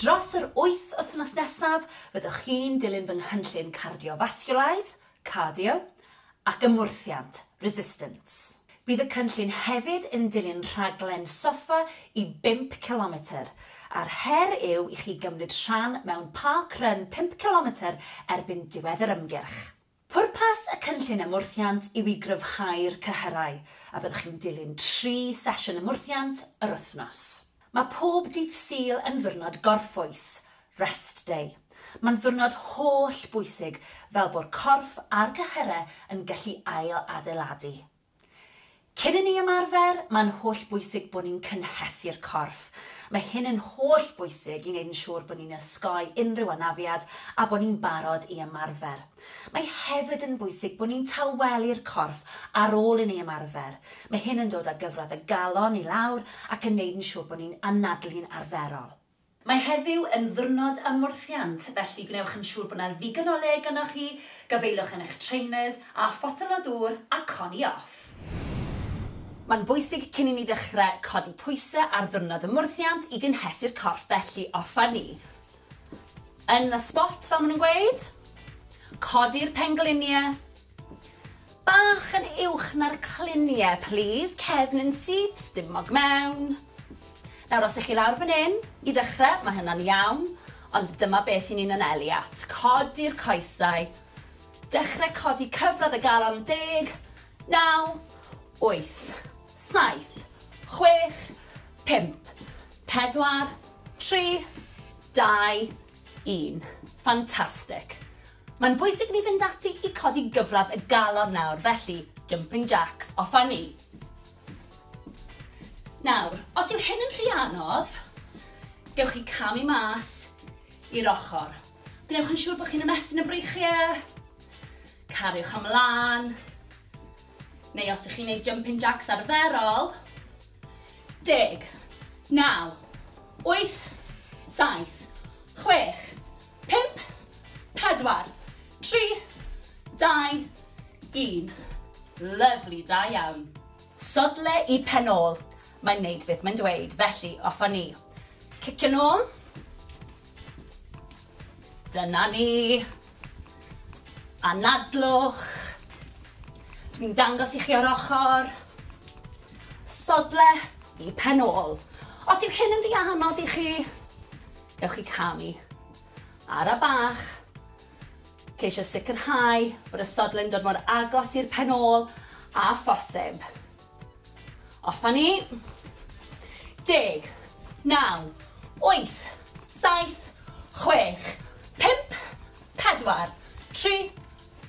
Dros yr wyth wythnos nesaf, fyddwch chi'n dilyn fy nghynllun cardiofasgiwlaidd, cardio, ac ymwrthiant, resistance. Bydd y cynllun hefyd yn dilyn rhaglen soffa i bump cilometr, a'r her yw i chi gymryd rhan mewn park run pump cilometr erbyn diwedd yr ymgyrch. Pwrpas y Cynllun Ymwrthiant yw i gryfhau'r cyhyrau, a byddwch chi'n dilyn tri sesiwn ymwrthiant yr wythnos. Mae pob dydd Sul yn ddiwrnod gorffwys, Rest Day. Mae'n ddiwrnod holl bwysig fel bo'r corff a'r cyhyrau yn gallu ail-adeiladu. Cyn i ni ymarfer, mae'n hollbwysig bod ni'n cynhesu'r corff. Mae hyn yn hollbwysig i wneud yn siŵr bod ni'n osgoi unrhyw anafiad a bod ni'n barod i ymarfer. Mae hefyd yn bwysig bod ni'n tawelu'r corff ar ôl i ni ymarfer. Mae hyn yn dod â gyfradd y galon i lawr ac yn wneud yn siŵr bod ni'n anadlu'n arferol. Mae heddiw yn ddiwrnod ymwrthiant, felly gwnewch yn siŵr bod 'na ddigon o le gynnoch chi, gafaelwch yn eich trainers, a photel o ddŵr a coni off! Mae'n bwysig cyn i ni ddechrau codi pwysau ar ddiwrnod ymwrthiant i gynhesu'r corff, felly offer ni yn y spot fel maen nhw'n gweud, codi'r pengliniau, Bach yn uwch na'r clunie plîs, cefn yn syth, stumog mewn. Nawr os 'ych chi lawr fan 'yn, i ddechre, ma' hynna'n iawn, ond dyma beth 'yn ni'n anelu at, codi'r coesau, dechre codi cyfradd y galon, deg, naw, wyth, saith, chwech, pump, pedwar, tri, dau, un. Fantastic! Mae'n bwysig i ni fynd ati i codi gyfradd y galon nawr, felly, jumping jacks, off â ni! Nawr, os yw hyn yn rhy anodd, gewch chi camu mas i'r ochr. Gwnewch yn siŵr bod chi'n ymestyn y breichiau, cariwch ymlaen, neu os ych chi'n gwneud jumping jacks arferol, Deg. Naw. Wyth. Saith. Chwech. Pump. Pedwar. Tri. Dau. Un. Lyfli, da iawn. Sodle i pen ôl. Mae'n neud beth mae'n dweud, felly off a ni. Cicio nôl. Dyna ni. Anadlwch. Dwi'n dangos i chi o'r ochr. Sodle i pen ôl. Os yw hyn yn rhy anodd i chi, gewch chi camu. Ara bach. Ceisio sicrhau bod y sodle'n dod mor agos i'r pen ôl a phosib. Off a ni. Deg. Naw. Wyth. Saith. Chwech. Pump. Pedwar. Tri.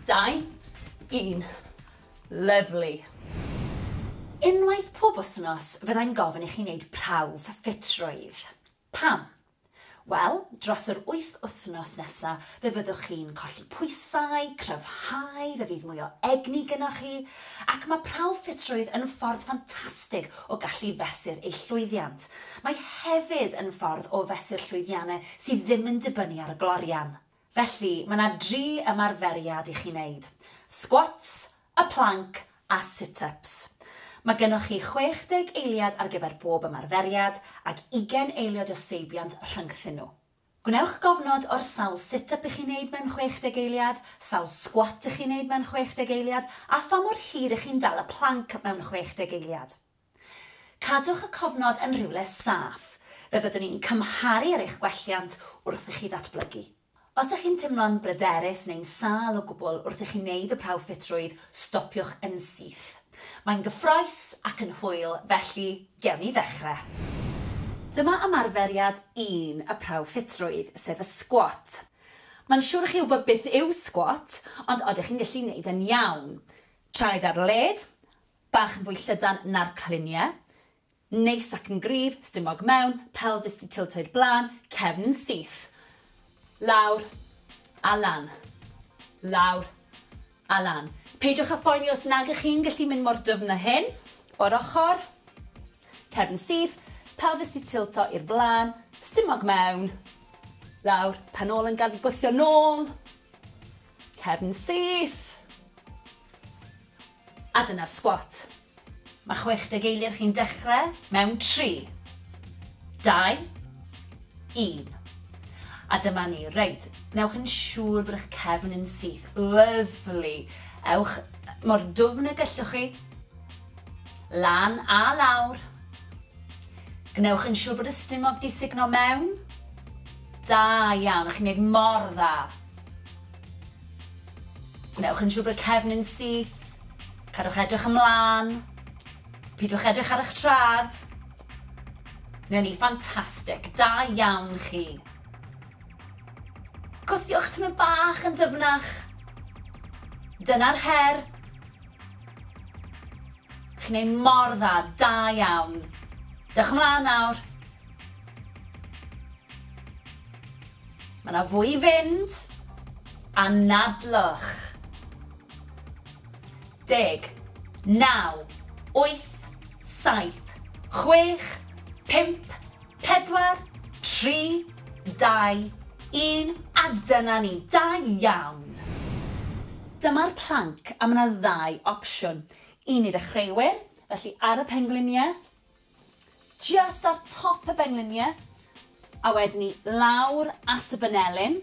Dau. Un. Lyfli. Unwaith pob wythnos, fyddai'n gofyn i chi wneud prawf ffitrwydd. Pam? Wel, dros yr wyth wythnos nesa, fe fyddwch chi'n colli pwysau, cryfhau, fe fydd mwy o egni gynoch chi, ac mae prawf ffitrwydd yn ffordd ffantastig o gallu fesur eich llwyddiant. Mae hefyd yn ffordd o fesur llwyddiannau sydd ddim yn dibynnu ar y glorian. Felly, mae 'na dri ymarferiad i chi neud, squats, y planc a sit-ups. Mae gynnoch chi 60 eiliad ar gyfer bob ymarferiad ac ugain eiliod o seibiant rhyngthyn nhw. Gwnewch gofnod o'r sawl sit-up i chi neud mewn 60 eiliad, sawl squat i chi neud mewn 60 eiliad a pha mor hir i chi'n dal y planc mewn 60 eiliad. Cadwch y cofnod yn rhywle saff, fe fyddwn ni'n cymharu ar eich gwelliant wrth i chi ddatblygu. Os ydych chi'n teimlo'n bryderus neu'n sâl o gwbl wrth i chi wneud y prawf ffitrwydd, stopiwch yn syth. Mae'n gyffrous ac yn hwyl, felly gewn ni ddechrau. Dyma ymarferiad un y prawf ffitrwydd, sef y sgwat. Mae'n siŵr i chi wybod beth yw sgwat, ond odych chi'n gallu wneud e'n iawn? Traed ar led, Bach yn fwy llydan na'r cliniau. Neis ac yn gryf, stumog mewn, pelfis di tiltoed blaen, cefn yn syth. Lawr a lan. Lawr a lan. Peidiwch a phoeni os nag ych chi'n gallu mynd mor dyfn â hyn. O'r ochr, cefn syth, pelfis di tilto i'r blaen, stumog mewn, lawr, pen ôl yn gadw gwthio nôl, cefn syth. A dyna'r sgwat. Mae 60 eiliad chi'n dechrau mewn 3, 2, 1. A dyma ni. Reit, newch yn siŵr bod eich cefn yn syth. Lyfli. Ewch mor dwfn y gellwch chi. Lan a lawr. Gwnewch yn siŵr bod y stumog di sugno mewn. Da iawn, chi'n neud mor dda. Gwnewch yn siŵr bod y cefnyn syth. Cadwch edrych ymlaen. Pidwch edrych ar eich trad. Neu ni, ffantastig. Da iawn chi. Gwthiwch tymor bach yn dyfnach. Dyna'r her. Chi'n ei mor dda, da iawn. Dewch ymlaen nawr. Mae 'na fwy i fynd. Anadlwch. Deg. Naw. Wyth. Saith. Chwech. Pump. Pedwar. Tri. Dau. Un. A dyna ni. Da iawn! Dyma'r planc a mae 'na ddau opsiwn. Un i ddechreuwyr, felly ar y pengliniau, Jyst ar top y benglinie a wedyn ni lawr at y banelin.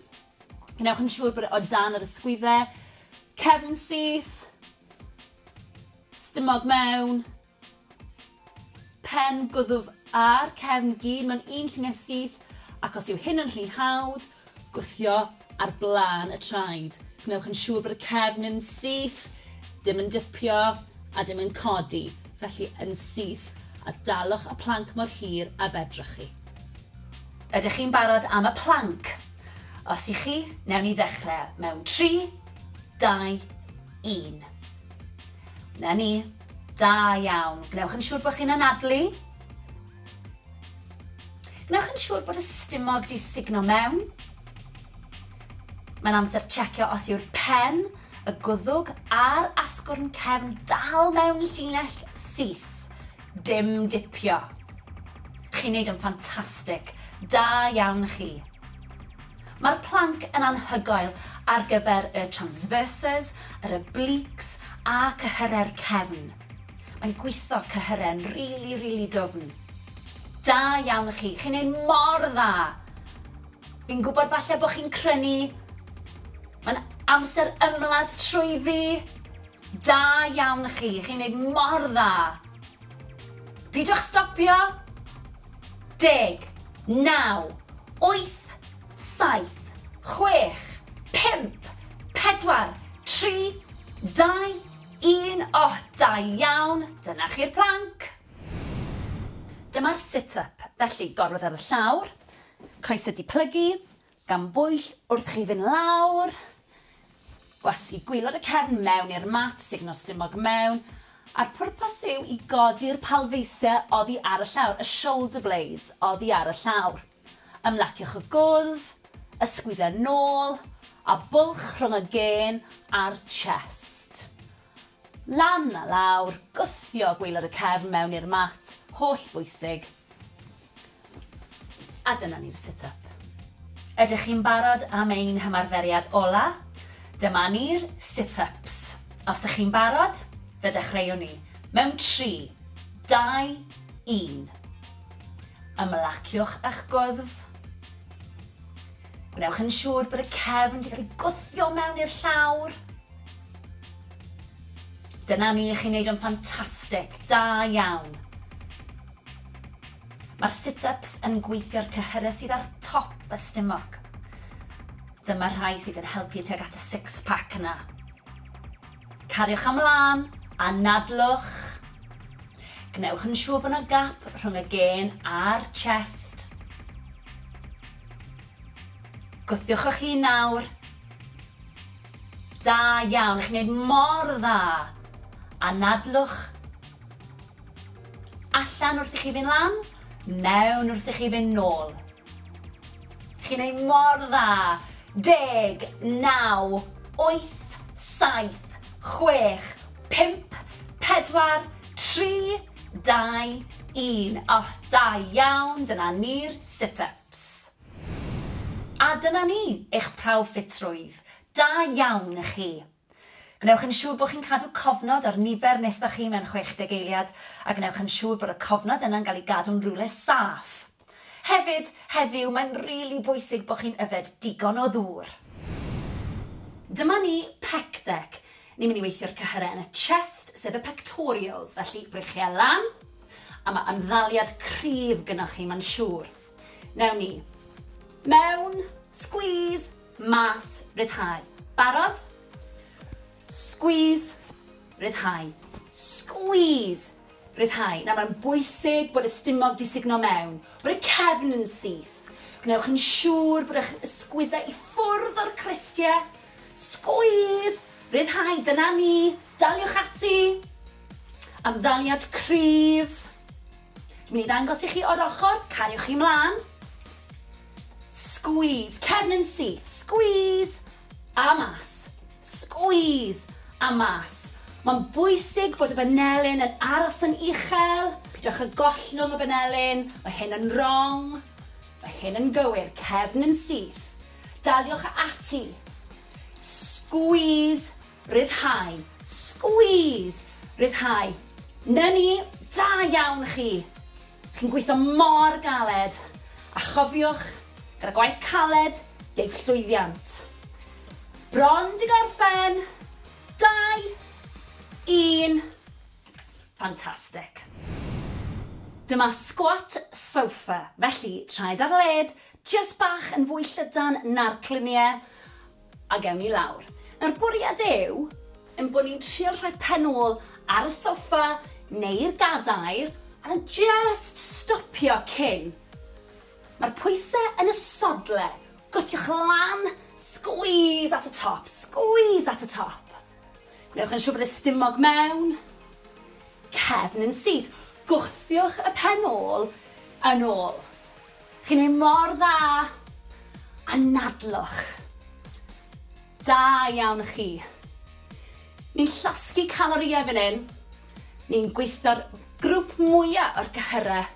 Gwnewch yn siŵr bod e o dan yr ysgwydde, cefn syth, stumog mewn, pen gwddf a'r cefn gyd mewn un llunie syth ac os yw hyn yn rhy hawdd, Gwthio ar blaen y traed. Gwnewch yn siŵr bod y cefn yn syth, dim yn dipio a dim yn codi, felly yn syth, a dalwch y planc mor hir a fedrwch chi. Ydych chi'n barod am y planc? Os y'ch chi, newn ni ddechrau mewn tri, dau, un. 'Na ni. Da iawn. Gwnewch yn siŵr bod chi'n anadlu. Wnewch yn siŵr bod y stumog 'di sugno mewn. Mae'n amser checio os yw'r pen, y gwddwg a'r asgwrn cefn dal mewn llinell syth. Dim dipio. Chi'n neud yn ffantastig. Da iawn chi. Mae'r planc yn anhygoel ar gyfer y transverses, yr obliques a cyhyrau'r cefn. Mae'n gwitho cyhyren rili rili dwfn. Da iawn i chi, chi'n neud mor dda! Fi'n gwybod falle bod chi'n crynu, mae'n amser ymladd trwyddi! Da iawn i chi, chi'n neud mor dda! Pidwch stopio! Deg, naw, wyth, saith, chwech, pump, pedwar, tri, dau, Un oh da iawn! Dyna chi'r plank! Dyma'r sit up, felly gorwedd ar y llawr, coesau di plygu, gan bwyll wrth chi fynd lawr, gwasgu gwylod y cefn mewn i'r mat, sugno'r stumog mewn, a'r pwrpas yw i godi'r palfeisiau oddi ar y llawr, y shoulder blades oddi ar y llawr. Ymlaciwch y gwddf, ysgwyd a nôl, a bwlch rhwng y gên a'r chest. Lan a lawr, gwthio gwaelod y cefn mewn i'r mat, holl bwysig. A dyna ni'r sit up. Ydych chi'n barod am ein hymarferiad ola? Dyma ni'r sit ups. Os ych chi'n barod, fe ddechreuwn ni. Mewn tri, dau, un. Ymlaciwch â'ch gwddf. Gwnewch yn siŵr bod y cefn wedi cael ei gwthio mewn i'r llawr. Dyna ni, chi'n neud o'n ffantastig, da iawn. Mae'r sit-ups yn gweithio'r cyhyrau sydd ar top y stumog. Dyma'r rhai sydd yn helpu tuag at y six-pack yna. Cariwch am lân, anadlwch. Gwnewch yn siŵr bod yna gap rhwng y gên a'r chest. Gwthiwch eich hun nawr. Da iawn, chi'n gwneud mor dda. Anadlwch. Allan wrth i chi fynd lan, mewn wrth i chi fynd nôl. Chi'n neud mor dda! Deg, naw, wyth, saith, chwech, pump, pedwar, tri, dau, un. O, da iawn, dyna ni'r sit-ups. A dyna ni, eich prawf ffitrwydd. Da iawn i chi. Gwnewch yn siŵr bod chi'n cadw cofnod ar nifer nethoch chi mewn 60 eiliad, a gwnewch yn siŵr bod y cofnod yna'n cael ei gadw'n rywle saff. Hefyd, heddiw, mae'n rili bwysig bod chi'n yfed digon o ddŵr. Dyma ni, Pec Deck. Ni'n mynd i weithio'r cyhyrau yn y chest, sef y pectorials, felly breichiau lan, a mae ymddaliad cryf gynnoch chi, mae'n siŵr. Newn ni. Mewn, squeeze, mas, ryddhau. Barod? Squeeze, ryddhau. Squeeze, ryddhau. Nawr mae'n bwysig bod y stumog di sugno mewn, bod y cefn yn syth. Gwnewch yn siŵr bod eich ysgwyddau i ffwrdd o'r crestiau. Squeeze, ryddhau, dyna ni, daliwch ati. Amddaliad cryf. Dwi'n mynd i ddangos i chi o'r ochr, cariwch chi mlaen. Squeeze, cefn yn syth, squeeze, a mas. Squeeze, a mas. Mae'n bwysig bod y banelyn yn aros yn uchel, pidwch y gollwng y banelyn, mae hyn yn wrong, mae hyn yn gywir, cefn yn syth. Daliwch ati. Squeeze Rhyddhau. Squeeze! Rhyddhau. 'Na ni! Da iawn chi! Chi'n gweithio mor galed! A chofiwch, gyda gwaith caled, deiff llwyddiant. Bron 'di gorffen! Dau! Un! Fantastic! Dyma squat sofa, felly traed ar led, jyst bach yn fwy llydan na'r clunie, A gewn ni lawr. Nawr bwriad yw ein bod ni'n trio rhoi pen ôl ar y soffa neu'r gadair a jyst stopio cyn. Mae'r pwysau yn y sodle, gwthiwch lan, squeeze at y top, squeeze at y top. Gwnewch yn siŵr bod y stumog mewn, cefn yn syth, gwthiwch y pen ôl yn ôl. Chi'n neud mor dda! Anadlwch! Da iawn chi! Ni'n llosgi calorïau fan hyn, ni'n gweithio'r grwp mwya o'r cyhyrau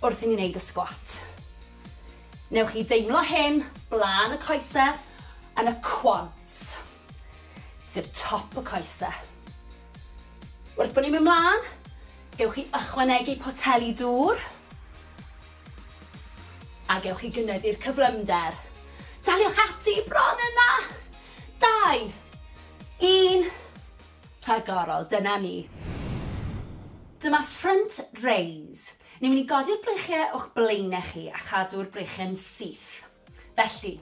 wrth i ni neud y sgwat. Newch chi deimlo hyn blaen y coese yn y quads. sef top y coese. Wrth bod ni'n mynd mlaen, gewch chi ychwanegu poteli dŵr a gewch chi gynyddu'r cyflymder. Daliwch ati bron yna! Dau, un, rhagorol, dyna ni. Dyma front raise. Ni'n mynd i godi'r breichiau o'ch blaenau chi a chadw'r breichiau'n syth. Felly,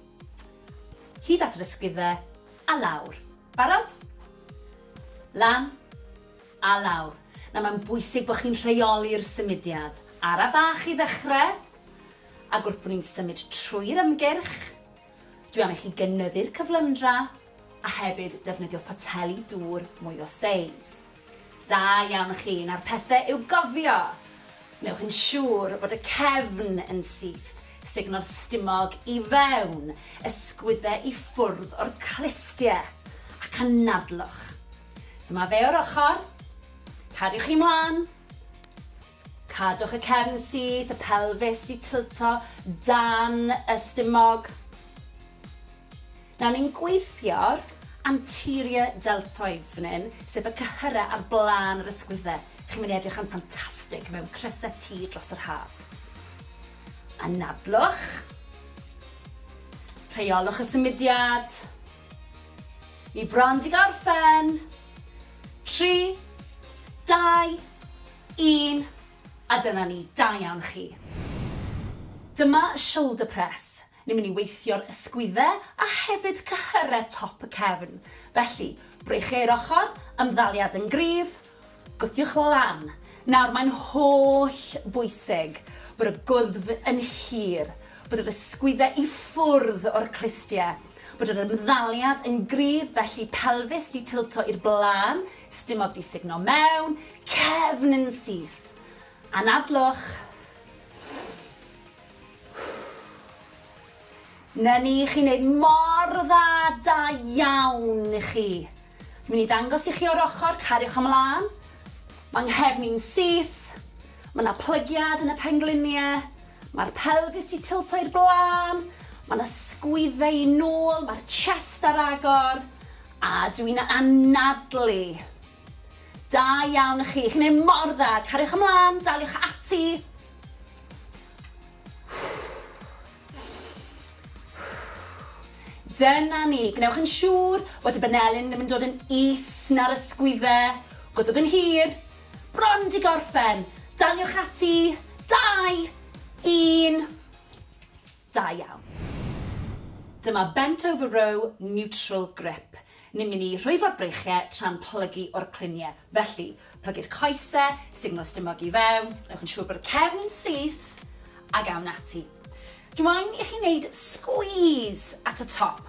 hyd at yr ysgwyddau, a lawr. Barod? Lan, a lawr. Nawr, mae'n bwysig bod chi'n rheoli'r symudiad. Ara bach i ddechrau, ac wrth bod ni'n symud trwy'r ymgyrch, dwi am i chi gynyddu'r cyflymdra, a hefyd defnyddio poteli dŵr mwy o seis. Da iawn chi, nawr pethe i'w gofio! Wnewch yn siŵr bod y cefn yn syth, sugno'r stumog i fewn, ysgwydde i ffwrdd o'r clustie, ac anadlwch. Dyma fe o'r ochr. Cariwch chi mlan. Cadwch y cefn syth, y pelfis di tilto dan y stumog. Nawr ni'n gweithio'r anterior deltoids fan hyn, sef y cyhyrau ar blaen yr ysgwyddau. Chi'n mynd i edrych yn ffantastig mewn crysau T dros yr haf. Anadlwch. Rheolwch y symudiad. Ni bron di gorffen. Tri, dau, Un, a dyna ni, da iawn chi. Dyma y shoulder press, ni'n mynd i weithio'r ysgwydde a hefyd cyhyre top y cefn, felly, breichiau'r ochr, ymddaliad yn gryf, gwthiwch lan. Nawr, mae'n holl bwysig bod y gwddf yn hir, bod yr ysgwydde i ffwrdd o'r clustie, bod yr ymddaliad yn gryf, felly pelfis di tilto i'r blaen, Stumog di sugno mewn cefn yn syth. Anadlwch. Na ni, chi'n neud mor dda, da iawn i chi. Mi'n i ddangos i chi o'r ochr, cariwch ymlaen. Mae nghefn i'n syth. Mae yna plygiad yn y pengliniau. Mae'r pelfis di tilto i'r blaen. Mae yna sgwydde i nôl, mae'r chest ar agor. A dw i'n anadlu! Da iawn chi, chi'n neud mor dda, cariwch ymlan, daliwch ati! Dyna ni, gwnewch yn siŵr bod y banelyn ddim yn dod yn is na'r ysgwydde, gwddwg yn hir, bron di gorffen, daliwch ati, dau, un, Da iawn. Dyma bent over row neutral grip. Ni'n mynd i rhwyfo'r breichie tra'n plygu o'r clunie. Felly, plygu'r coese, signal stumog i fewn, newch yn siŵr bod y cefn yn syth, ag awn ati. Dw i'n i chi wneud squeeze at y top.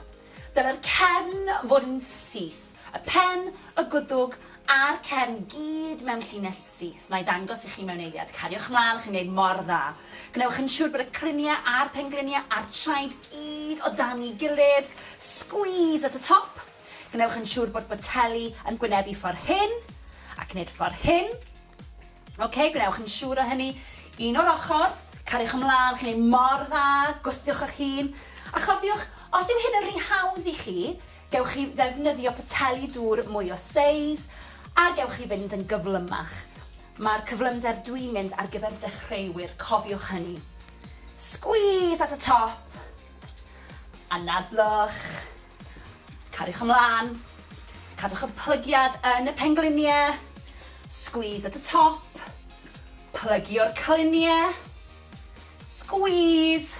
Dylai'r cefn fod yn syth, y pen, y gwddwg a'r cefn gyd mewn llinell syth. Wna i ddangos i chi mewn eiliad. Cariwch ymlaen, chi'n gwneud mor dda. Gwnewch yn siŵr bod y criniau a'r pengliniau a'r traed gyd o dan ei gilydd. Squeeze at y top. Gwnewch yn siŵr bod boteli yn gwynebu ffordd hyn, ac wneud ffordd hyn. Ok, gwnewch yn siŵr o hynny. Un o'r ochr, cariwch ymlaen, chi'n ei mor dda, gwthiwch eich hun. A chofiwch, os yw hyn yn rhy hawdd i chi, gewch chi ddefnyddio poteli dŵr mwy o seis, a gewch chi fynd yn gyflymach. Mae'r cyflymder dwi'n mynd ar gyfer dechreuwyr, cofiwch hynny. Squeeze at y top. Anadlwch. Cariwch ymlaen. Cadwch y plygiad yn y pengliniau. Squeeze at y top. Plygio'r cliniau. Squeeze.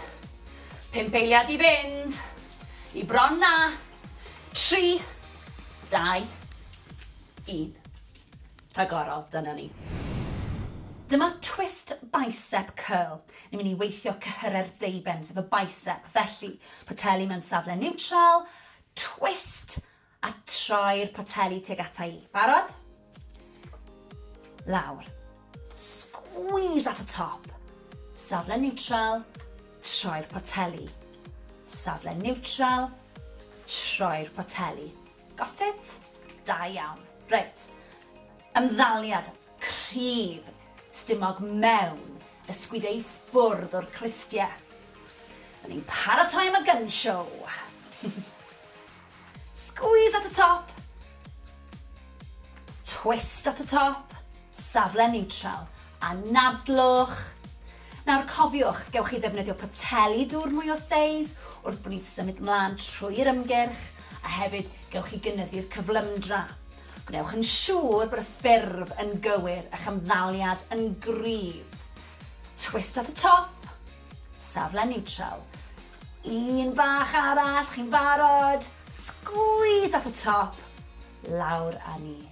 Pump eiliad i fynd. I bron na. Tri. Dau. Un. rhagorol, dyna ni. Dyma twist bicep curl. Ni'n mynd i weithio cyhyrau'r deuben, sef y bicep. Felly, poteli mewn safle niwtral, twist, a troi'r poteli tuag ata i. Barod? Lawr. Squeeze at y top. Safle niwtral, troi'r poteli. Safle niwtral, troi'r poteli. Got it? Da iawn. Reit. Ymddaliad cryf stumog mewn ysgwydde i ffwrdd o'r clustie. Da ni'n paratoi am y gun show. Squeeze at y top. Twist at y top. Safle neutral. Anadlwch. Nawr cofiwch, gewch chi ddefnyddio poteli dŵr mwy o seis wrth bod ni'n symud mlaen trwy'r ymgyrch, a hefyd gewch chi gynyddu'r cyflymdra. Gwnewch yn siŵr bod y ffurf yn gywir, a'ch ymddaliad yn gryf. Twist at y top, safle niwtral. Un bach arall, chi'n barod? Sgwîs at y top, lawr â ni.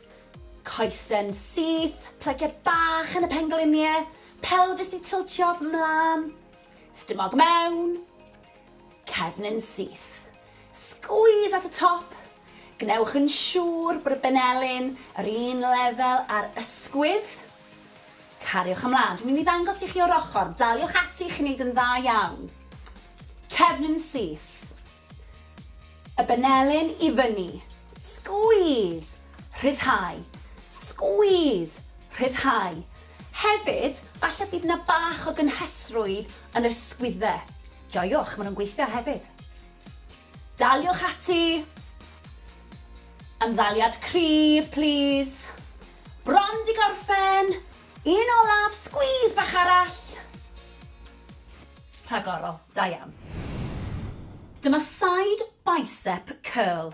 Coesyn syth, plygiad bach yn y pengliniau, pelfis i tiltio 'mlan, stumog mewn, cefnyn syth. Sgwîs at y top, gwnewch yn siŵr bod y benelin yr un lefel â'r ysgwydd. Cariwch ymlan, dwi'n mynd i ddangos i chi o'r ochr, daliwch ati, chi'n neud yn dda iawn. Cefnyn syth, Y benelin i fyny. Squeeze! Rhyddhau. Squeeze! Rhyddhau. Hefyd, falle bydd 'na bach o gynhesrwydd yn yr sgwydde. Joiwch, maen nhw'n gweithio hefyd. Daliwch ati. Ymddaliad cryf, plîs. Bron 'di gorffen! Un olaf, squeeze bach arall. Rhagorol, da iawn. Dyma side bicep curl.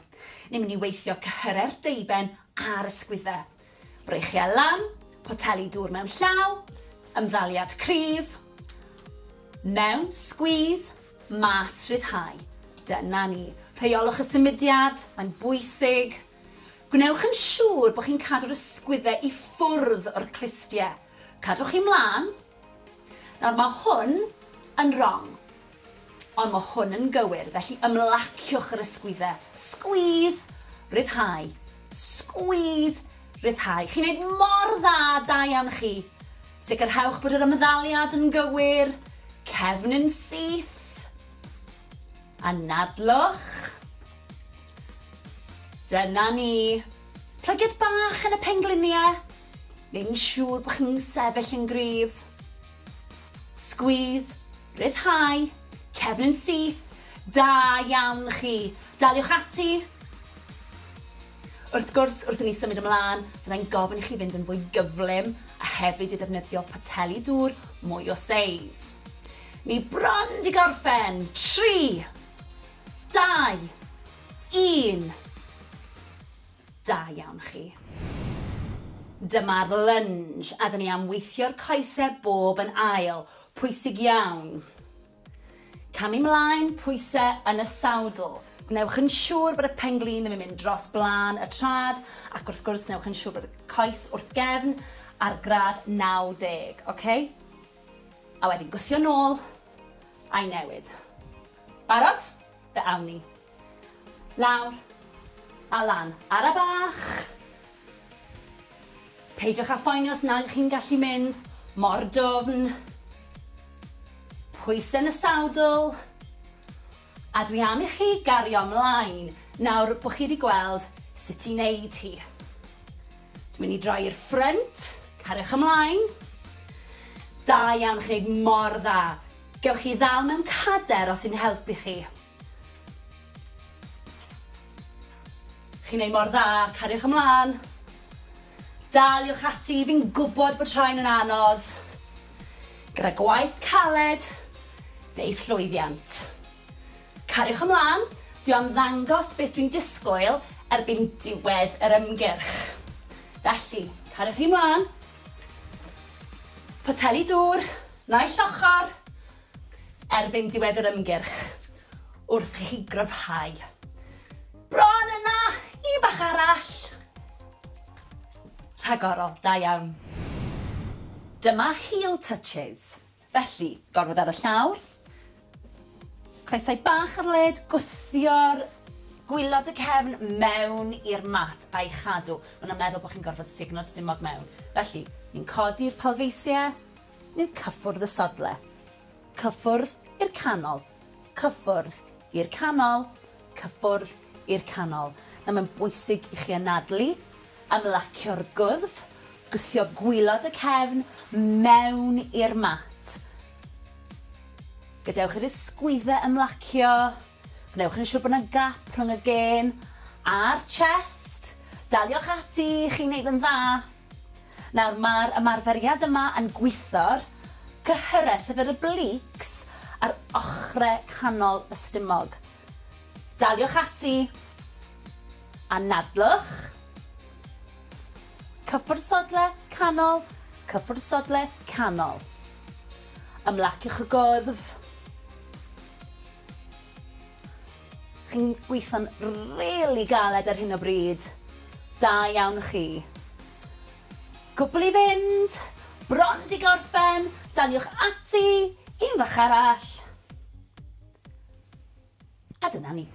Ni'n mynd i weithio cyhyrau'r deuben a'r ysgwyddau. Breichiau lan, poteli dŵr mewn llaw, ymddaliad cryf, mewn, squeeze, mas, rhyddhau. Dyna ni. Rheiolwch y symudiad, mae'n bwysig. Gwnewch yn siŵr bod chi'n cadw'r ysgwyddau i ffwrdd o'r clustiau. Cadwch chi mlaen. Nawr, mae hwn yn rong. Ond mae hwn yn gywir, felly ymlaciwch yr ysgwyddau. Squeeze, ryddhau. Squeeze, ryddhau. Chi'n neud mor dda, da iawn chi. Sicrhewch bod yr ymddaliad yn gywir. Cefn yn syth. Anadlwch. Dyna ni. Plygiad bach yn y penglinie, neud yn siŵr bod chi'n sefyll yn gryf. Squeeze, rhyddhau, cefn yn syth, da iawn chi. Daliwch ati. Wrth gwrs, wrth i ni symud ymlaen, fyddai'n gofyn i chi fynd yn fwy gyflym a hefyd i ddefnyddio poteli dŵr mwy o seis. Ni bron 'di gorffen. Tri, Dau! Un! Da iawn chi. Dyma'r lunge a 'da ni am weithio'r coese bob yn ail. Pwysig iawn. Camu 'mlaen, pwyse yn y sawdl. Gwnewch yn siŵr bod y pen-glin ddim yn mynd dros blaen y trad ac wrth gwrs newch yn siŵr bod y coes wrth gefn ar gradd 90, oce? A wedyn gwthio nôl a'i newid. Barod? Fe awn ni. Lawr. A lan. Ara bach! Peidiwch â phoeni os nag ych chi'n gallu mynd mor dwfn. Pwysau yn y sadl. A dwi am i chi gario ymlaen nawr bod chi wedi gweld sut i wneud hi. Dwi'n mynd i droi i'r ffrynt. Cariwch ymlaen. Da iawn, chi'n gwneud mor dda. Gewch chi ddal mewn cader os yw'n helpu chi. Chi'n neud mor dda, cariwch ymlan. Daliwch ati, fi'n gwbod bod rhain yn anodd. Gyda gwaith caled, deith llwyddiant. Cariwch ymlan, dwi am ddangos beth dwi'n disgwyl erbyn diwedd yr ymgyrch. Felly, cariwch chi mlan. Poteli dŵr. Naill ochr, erbyn diwedd yr ymgyrch, wrth i chi gryfhau. Bron yna! Un bach arall! Rhagorol, da iawn. Dyma heel touches. Felly, gormod ar y llawr. Coesau bach ar led, gwthio'r gwilod y cefn mewn i'r mat a'i chadw. Maen nhw'n meddwl bod chi'n gorfod sugno'r stumog mewn. Felly, ni'n codi'r palfeisiau, ni'n cyffwrdd y sodle. Cyffwrdd i'r canol. Cyffwrdd i'r canol. Cyffwrdd i'r canol. Nawr mae'n bwysig i chi anadlu Ymlacio'r gwddf, gwthio gwilod y cefn mewn i'r mat. Gadewch i'r ysgwyddau ymlacio, gwnewch yn siŵr bod yna gap rhwng y gên a'r chest. Daliwch ati, chi'n gwneud yn dda. Nawr, mae'r ymarferiad yma yn gwitho'r cyhyrau, sef yr obliques, a'r ochrau canol y stumog. Daliwch ati! Anadlwch! Cyffwrdd sodle canol, cyffwrdd sodle canol. Ymlaciwch y gwddf. Chi'n gweithio'n rili galed ar hyn o bryd. Da iawn chi. Cwbl i fynd, bron di gorffen, daliwch ati, un fach arall. A dyna ni.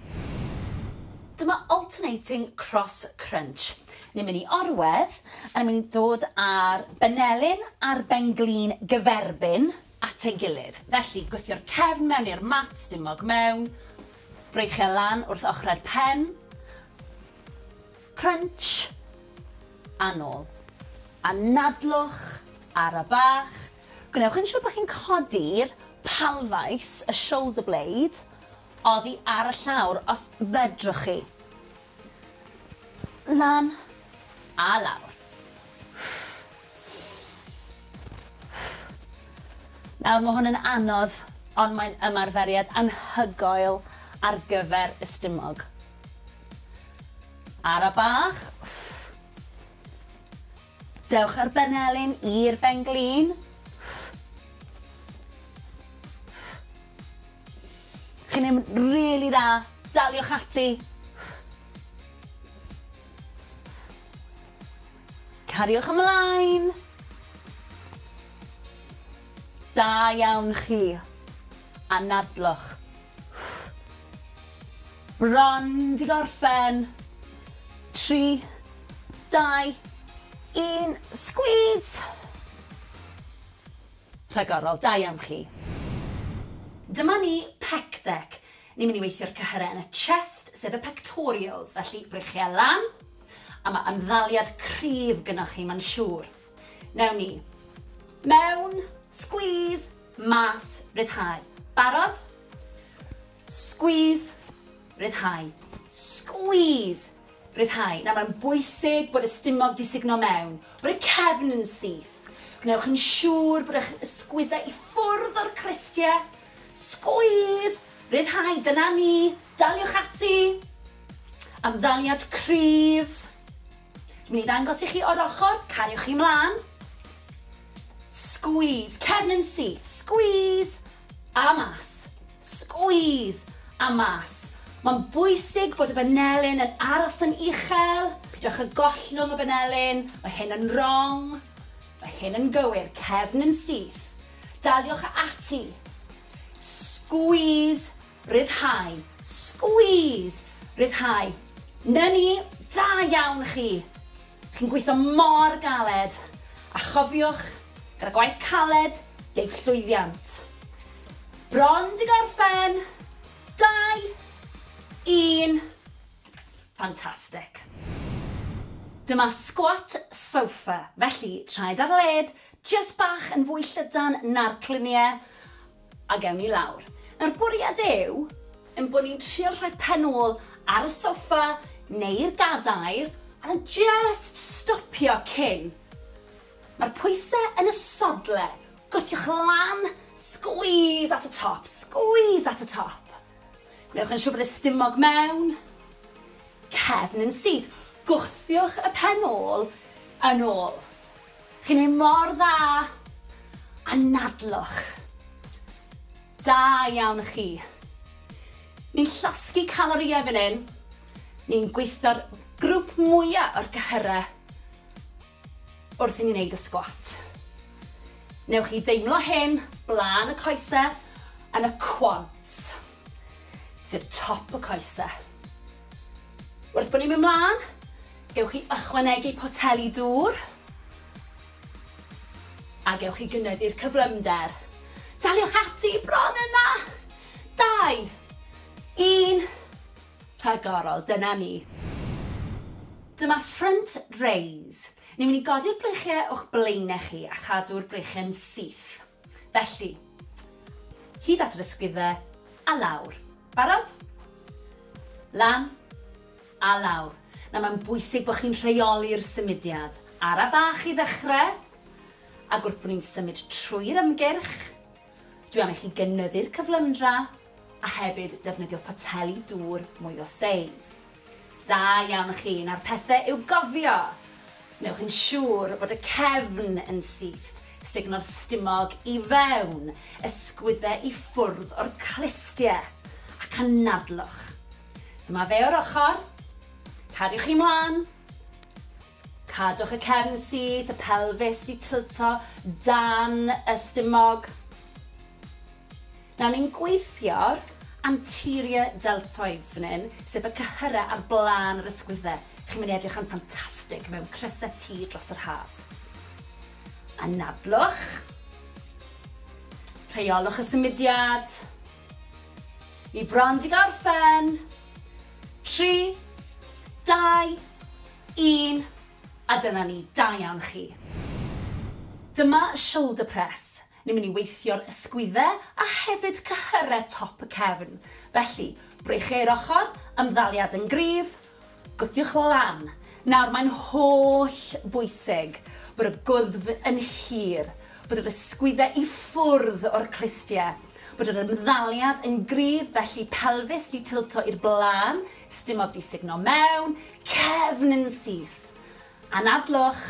Dyma alternating cross crunch. Ni'n mynd i orwedd, a ni'n mynd i dod â'r benelin a'r benglin gyferbyn at ei gilydd. Felly, gwthio'r cefn mewn i'r mat, stumog mewn, breichiau e lan wrth ochrau'r pen, crunch, a nôl. A nadlwch, ara bach, Gwnewch yn siwr bod chi'n codi'r palfais, y shoulder blade, oddi ar y llawr, os fedrwch chi. Lan a lawr. Nawr, mae hwn yn anodd, ond mae'n ymarferiad anhygoel ar gyfer y stumog. Ara bach. Dewch â'r benelin i'r ben-glin. Chi'n neud yn rili dda. Daliwch ati. Cariwch ymlaen. Da iawn chi. Anadlwch. Bron 'di gorffen! Tri, dau, un, sgwîs! Rhagorol, da iawn chi. Dyma ni, pec dec. Ni'n mynd i weithio'r cyhyrau yn y chest, sef y pectorials, felly breichiau lan, a mae ymddaliad cryf gynoch chi, mae'n siŵr. Newn ni. Mewn. Squeeze. Mas. Ryddhau. Barod? Squeeze. Ryddhau. Squeeze. Ryddhau. Nawr mae'n bwysig bod y stumog di sugno mewn, bod y cefn yn syth. Gwnewch yn siŵr bod eich ysgwyddau i ffwrdd o'r cristiau. Squeeze! Ryddhau, dyna ni. Daliwch ati. Amddaliad cryf. Dwi'n mynd i ddangos i chi o'r ochr, cariwch chi mlaen. Squeeze, cefn yn syth, squeeze, a mas, squeeze, a mas. Mae'n bwysig bod y banelyn yn aros yn uchel, pidwch y gollwng y banelyn, mae hyn yn wrong, mae hyn yn gywir, cefn yn syth. Daliwch ati. Squeeze Rhyddhau. Squeeze! Rhyddhau. 'Na ni! Da iawn chi! Chi'n gweithio mor galed! A chofiwch, gyda gwaith caled, deiff llwyddiant. Bron 'di gorffen! Dau! Un! Fantastic! Dyma squat sofa, felly traed ar led, jyst bach yn fwy llydan na'r clunie, A gewn ni lawr. Nawr bwriad yw ein bod ni'n trio rhoi pen ôl ar y soffa neu'r gadair a just stopio cyn. Mae'r pwysau yn y sodle, gwthiwch lan, squeeze at y top, squeeze at y top. Gwnewch yn siŵr bod y stumog mewn, cefn yn syth, gwthiwch y pen ôl yn ôl. Chi'n neud mor dda! Anadlwch! Da iawn chi! Ni'n llosgi calorïau fan hyn, ni'n gweithio'r grwp mwya o'r cyhyrau wrth i ni neud y sgwat. Newch chi deimlo hyn blaen y coese yn y quads. sef top y coese. Wrth bod ni'n mynd mlaen, gewch chi ychwanegu poteli dŵr a gewch chi gynyddu'r cyflymder. Daliwch ati bron yna! Dau, un, rhagorol, dyna ni. Dyma front raise. Ni'n mynd i godi'r breichiau o'ch blaenau chi a chadw'r breichiau'n syth. Felly, hyd at yr ysgwyddau, a lawr. Barod? Lan, a lawr. Nawr mae'n bwysig bod chi'n rheoli'r symudiad. Ara bach i ddechrau, ac wrth bod ni'n symud trwy'r ymgyrch, dwi am i chi gynyddu'r cyflymdra, a hefyd defnyddio poteli dŵr mwy o seis. Da iawn chi, nawr pethe i'w gofio! Wnewch yn siŵr bod y cefn yn syth, sugno'r stumog i fewn, ysgwydde i ffwrdd o'r clustie, ac anadlwch. Dyma fe o'r ochr, cadwch chi mlan, Cadwch y cefn syth, y pelfis 'di tilto dan y stumog. Nawr ni'n gweithio'r anterior deltoids fan hyn, sef y cyhyrau ar blaen yr ysgwydde. Chi'n mynd i edrych yn ffantastig mewn crysau T dros yr haf. Anadlwch. Rheolwch y symudiad. Ni bron 'di gorffen. Tri, dau, Un, a dyna ni, da iawn chi. Dyma y shoulder press, ni'n mynd i weithio'r ysgwydde a hefyd cyhyre top y cefn, felly, breichiau'r ochr, ymddaliad yn gryf, gwthiwch lan. Nawr, mae'n holl bwysig bod y gwddf yn hir, bod yr ysgwydde i ffwrdd o'r clustie, bod yr ymddaliad yn gryf, felly pelfis di tilto i'r blaen, Stumog di sugno mewn cefn yn syth. Anadlwch.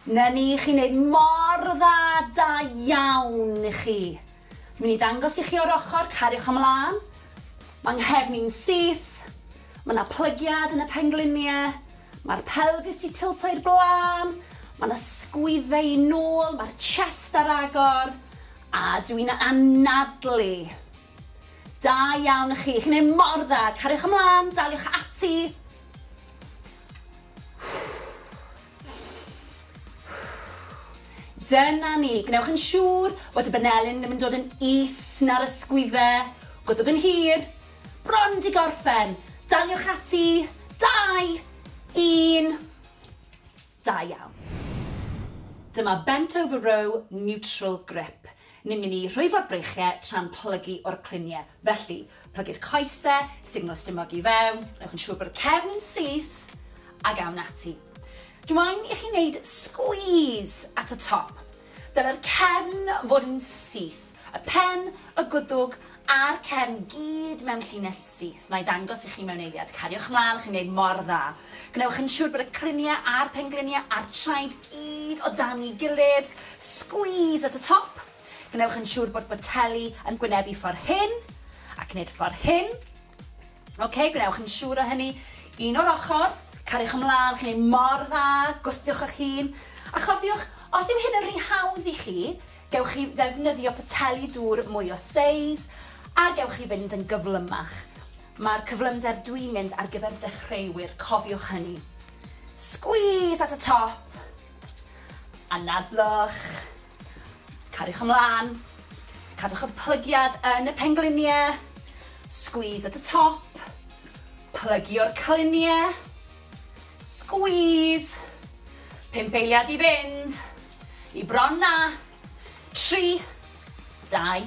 Na ni, chi'n neud mor dda, da iawn i chi. Mi'n i ddangos i chi o'r ochr, cariwch ymlaen. Mae nghefn i'n syth. Mae yna plygiad yn y pengliniau. Mae'r pelfis di tilto i'r blaen. Mae yna sgwydde i nôl, mae'r chest ar agor. A dw i'n anadlu! Da iawn chi, chi'n neud mor dda, cariwch ymlan, daliwch ati! Dyna ni, gwnewch yn siŵr bod y banelyn ddim yn dod yn is na'r ysgwydde, gwddwg yn hir, bron di gorffen, daliwch ati, dau, un, Da iawn. Dyma bent over row neutral grip. Ni'n mynd i rhwyfo'r breichie tra'n plygu o'r clunie. Felly, plygu'r coese, signal stumog i fewn, newch yn siŵr bod y cefn yn syth, ag awn ati. Dw i'n i chi wneud squeeze at y top. Dylai'r cefn fod yn syth, y pen, y gwddwg a'r cefn gyd mewn llinell syth. Na'i ddangos i chi mewn eiliad. Cariwch mlaen, chi'n gwneud mor dda. Gwnewch yn siŵr bod y cliniau a'r pengliniau a'r traed gyd o dan ei gilydd. Squeeze at y top. Gwnewch yn siŵr bod boteli yn gwynebu ffordd hyn, ac nid ffordd hyn. Ok, gwnewch yn siŵr o hynny. Un o'r ochr, cariwch ymlaen, chi'n ei mor dda, gwthiwch eich hun. A chofiwch, os yw hyn yn rhy hawdd i chi, gewch chi ddefnyddio poteli dŵr mwy o seis, a gewch chi fynd yn gyflymach. Mae'r cyflymder dwi'n mynd ar gyfer dechreuwyr, cofiwch hynny. Squeeze at y top, anadlwch. Cariwch ymlaen, cadwch y plygiad yn y pengliniau, squeeze at y top, plygio'r cliniau, squeeze, pump eiliad i fynd, i bron na, tri, dau,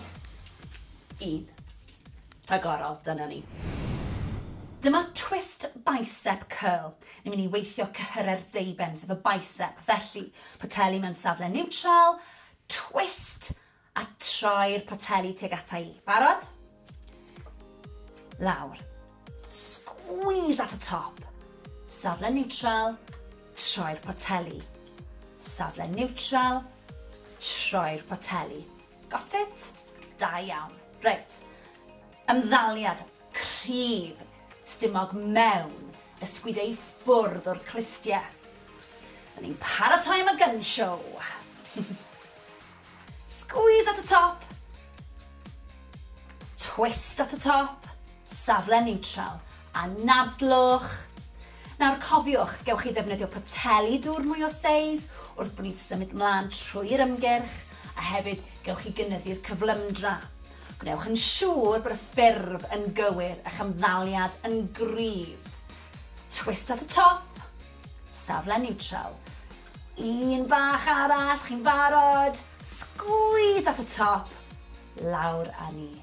un. rhagorol, dyna ni. Dyma twist bicep curl. Ni'n mynd i weithio cyhyrau'r deuben, sef y bicep. Felly, poteli mewn safle niwtral, twist, a troi'r poteli tuag ata i. Barod? Lawr. Squeeze at y top. Safle niwtral, troi'r poteli. Safle niwtral, troi'r poteli. Got it? Da iawn. Reit. Ymddaliad cryf stumog mewn ysgwyd ei ffwrdd o'r clustie. Da ni'n paratoi am y gun show. Squeeze at y top. Twist at y top. Safle niwtral, anadlwch. Nawr cofiwch, gewch chi ddefnyddio poteli dŵr mwy o seis wrth bod ni'n symud mlaen trwy'r ymgyrch, a hefyd gewch chi gynyddu'r cyflymdra. Gwnewch yn siŵr bod y ffurf yn gywir a'ch ymddaliad yn gryf. Twist at y top. Safle niwtral. Un bach arall, chi'n barod? Sgwîs at y top. Lawr â ni.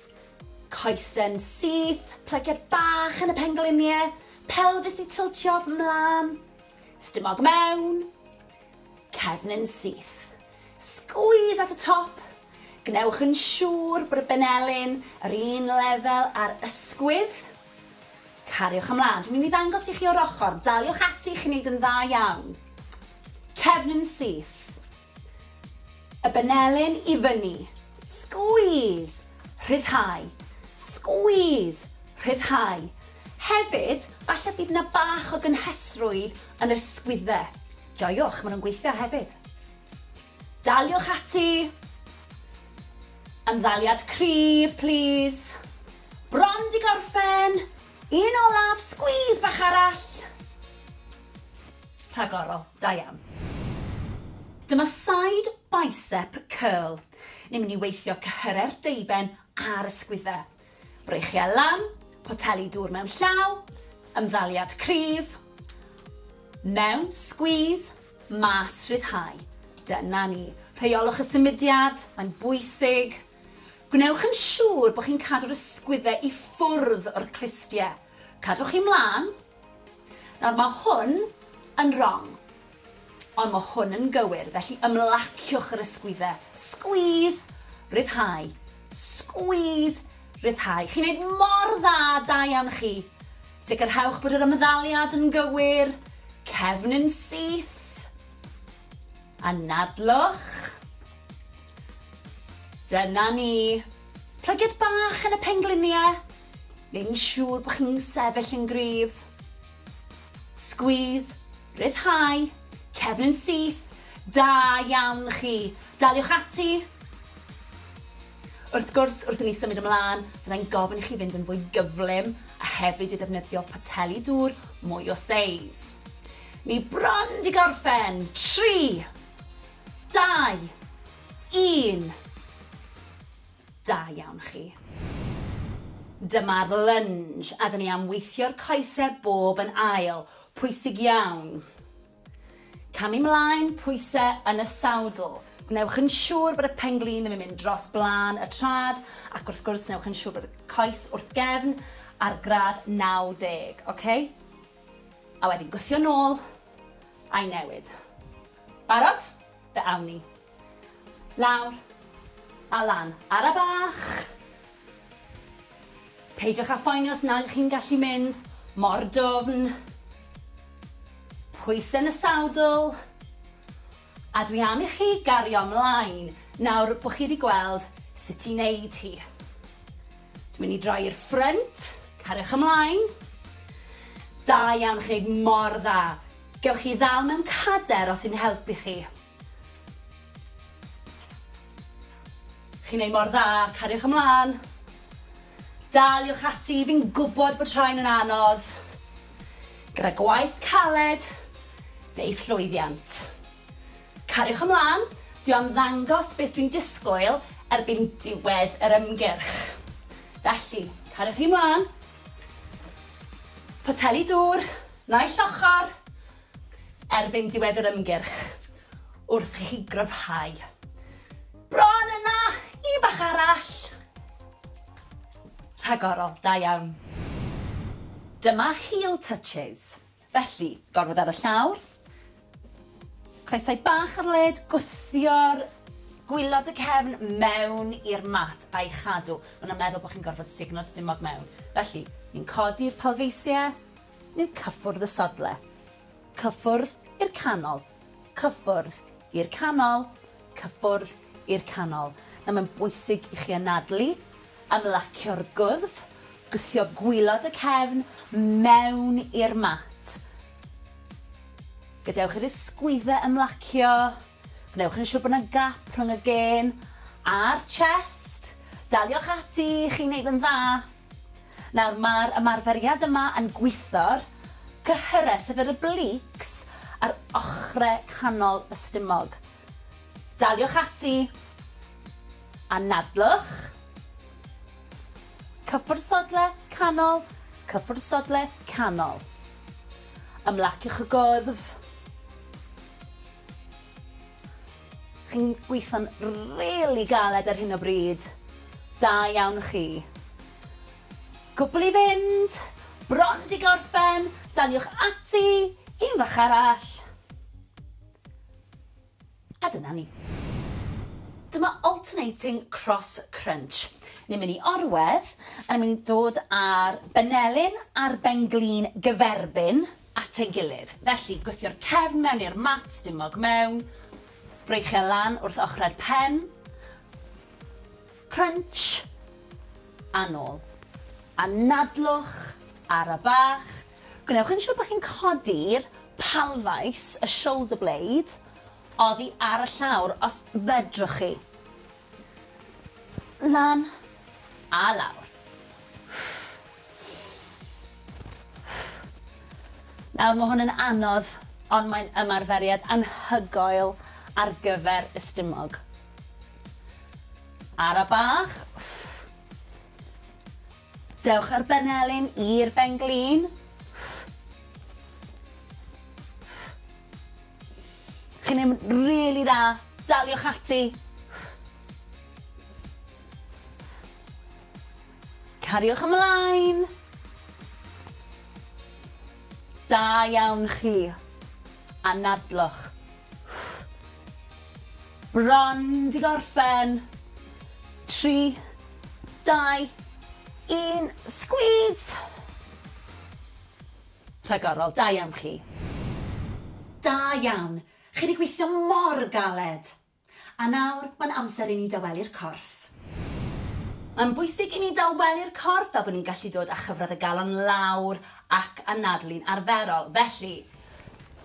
Coesyn syth, plygiad bach yn y pengliniau, pelfis i tiltio mlaen, stumog mewn, cefnyn syth. Squeeze at y top. Gwnewch yn siŵr bod y benelin yr un lefel ar ysgwydd. Cariwch ymlaen. Dwi'n mynd i ddangos i chi o'r ochr. Daliwch ati, chi'n neud yn dda iawn. Cefnyn syth. Y benelin i fyny. Squeeze! Rhyddhau. Squeeze! Rhyddhau. Hefyd, falle bydd yna bach o gynhesrwydd yn yr sgwydde. Joiwch, maen nhw'n gweithio hefyd. Daliwch ati. Ymddaliad cryf, plîs. Bron di gorffen! Un olaf, squeeze bach arall. Rhagorol, da iawn. Dyma side bicep curl. Ni'n mynd i weithio cyhyrau'r deuben a'r ysgwyddau. Breichiau lan, poteli dŵr mewn llaw, ymddaliad cryf, mewn, squeeze, mas, rhyddhau. Dyna ni. Rheiolwch y symudiad, mae'n bwysig. Gwnewch yn siŵr bod chi'n cadw'r ysgwyddau i ffwrdd o'r clustiau. Cadwch chi mlaen. Nawr, mae hwn yn rong. Ond mae hwn yn gywir, felly ymlaciwch yr ysgwyddau. Squeeze, ryddhau. Squeeze, ryddhau. Chi'n neud mor dda, da iawn chi. Sicrhewch bod yr ymddaliad yn gywir. Cefn yn syth. Anadlwch. Dyna ni! Plygiad bach yn y pengliniau! Neu'n siŵr bod chi'n sefyll yn gryf. Sgwîs, rhyddhau, cefn yn syth, da iawn chi! Daliwch ati! Wrth gwrs, wrth i ni symud ymlaen, fyddai'n gofyn i chi fynd yn fwy gyflym a hefyd i ddefnyddio poteli dŵr mwy o seis. Ni bron 'di gorffen! Tri! Dau! Un! Da iawn chi. Dyma'r lunge a 'dyn ni am weithio'r coese bob yn ail. Pwysig iawn. Camu 'mlaen, pwyse yn y sawdl. Gwnewch yn siŵr bod y pen-glin ddim yn mynd dros blaen y trad, ac wrth gwrs newch yn siŵr bod y coes wrth gefn ar gradd 90, oce? A wedyn gwthio nôl, a'i newid. Barod? Fe awn ni. Lawr. A lan. Ara bach! Peidiwch â phoeni os nag ych chi'n gallu mynd mor dwfn. Pwysau yn y sadl. A dwi am i chi gario ymlaen nawr bod chi wedi gweld sut i wneud hi. Dwi'n mynd i droi i'r ffrynt. Cariwch ymlaen. Da iawn, chi'n gwneud mor dda. Gewch chi ddal mewn cader os yw'n helpu chi. Chi'n neud mor dda, cariwch ymlan. Daliwch ati, fi'n gwbod bod rhain yn anodd. Gyda gwaith caled, deiff llwyddiant. Cariwch ymlan, dwi am ddangos beth dwi'n disgwyl erbyn diwedd yr ymgyrch. Felly, cariwch chi mlan. Poteli dŵr. Naill ochr, erbyn diwedd yr ymgyrch, wrth i chi gryfhau. Bron yna! Un bach arall! Rhagorol, da iawn. Dyma heel touches. Felly, gorwedd ar y llawr, Coesau bach ar led, gwthio'r gwylod y cefn mewn i'r mat a'i chadw. Maen nhw'n meddwl bod chi'n gorfod sugno'r stumog mewn. Felly, ni'n codi'r palfeisiau, ni'n cyffwrdd y sodle. Cyffwrdd i'r canol. Cyffwrdd i'r canol. Cyffwrdd i'r canol. Nawr, mae'n bwysig i chi anadlu, ymlacio'r gwddf, gwthio gwylod y cefn mewn i'r mat. Gadewch i'r ysgwyddau ymlacio. Gwnewch yn siŵr bod yna gap rhwng y gên a'r chest. Daliwch ati, chi'n neud yn dda. Nawr, mae'r ymarferiad yma yn gwitho'r cyhyrau, sef yr obliques, ar ochrau canol y stumog. Daliwch ati. Anadlwch. Cyffwrdd sodle canol, cyffwrdd sodle canol. Ymlaciwch y gwddf. Chi'n gweithio'n rili galed ar hyn o bryd. Da iawn chi. Cwbl i fynd. Bron di gorffen. Daliwch ati. Un fach arall. A dyna ni. Dyma alternating cross crunch. Ni'n mynd i orwedd, a ni'n mynd i dod â'r benelin a'r benglin gyferbyn at ei gilydd. Felly, gwthio'r cefn mewn i'r mat, stumog mewn, breichio e lan wrth ochrau'r pen, crunch, a nôl. A nadlwch, ara bach, Gwnewch yn siwr bod chi'n codi'r palfais, y shoulder blade, oddi ar y llawr, os fedrwch chi. Lan a lawr. Nawr, mae hwn yn anodd, ond mae'n ymarferiad anhygoel ar gyfer y stumog. Ara bach. Dewch â'r benelin i'r ben-glin. Chi'n neud yn rili dda. Daliwch ati. Cariwch ymlaen. Da iawn chi. Anadlwch. Bron 'di gorffen! Tri, dau, un, sgwîs! Rhagorol, da iawn chi. Da iawn, chi 'di gweithio mor galed! A nawr, mae'n amser i ni dawelu'r corff. Mae'n bwysig i ni dawelu'r corff fel bod ni'n gallu dod â chyfradd y galon lawr ac anadlu'n arferol, felly,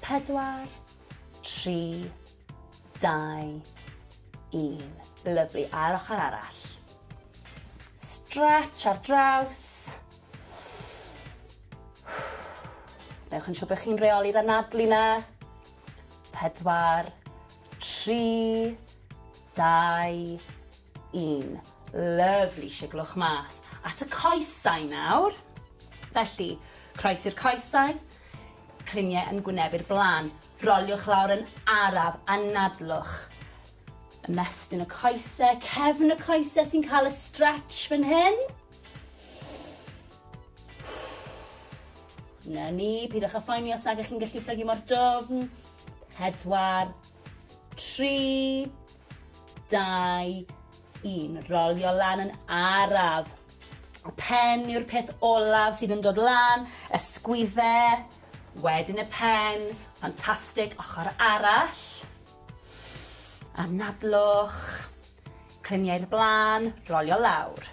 Pedwar, tri, dau, un. Lyflu, a'r ochr arall. Stretch ar draws. Newch yn siŵr bod chi'n reoli'r anadlu na. Pedwar, tri, dau, Un. Lyfli, siglwch mas at y coesau nawr. Felly, croes i'r coesau, cliniau yn gwynebu'r blaen. Roliwch lawr yn araf, anadlwch. Ymestyn y coesau, cefn y coesau sy'n cael y stretch fan hyn. Na ni, pidwch â phoeni os nag ych chi'n gallu plygu mor dwfn. Pedwar, tri, dau, un. Rolio lan yn araf. Y pen yw'r peth olaf sydd yn dod lan, ysgwydde, wedyn y pen, ffantastig, ochr arall. Anadlwch, cliniau'r blaen, rolio lawr.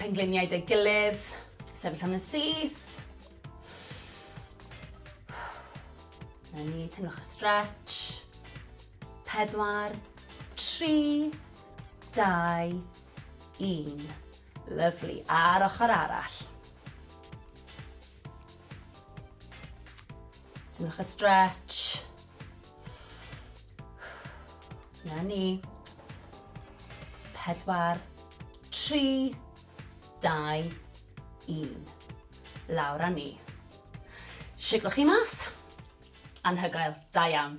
Pengliniau dei gilydd, sefyll am yn syth. Na ni, teimlwch y stretch. Pedwar, tri, dau, un. Lyflu, a'r ochr arall. Teimlwch y stretch. Na ni. Pedwar, tri, dau, un. Lawr a ni. Siglwch chi mas. Anhygoel. Da iawn.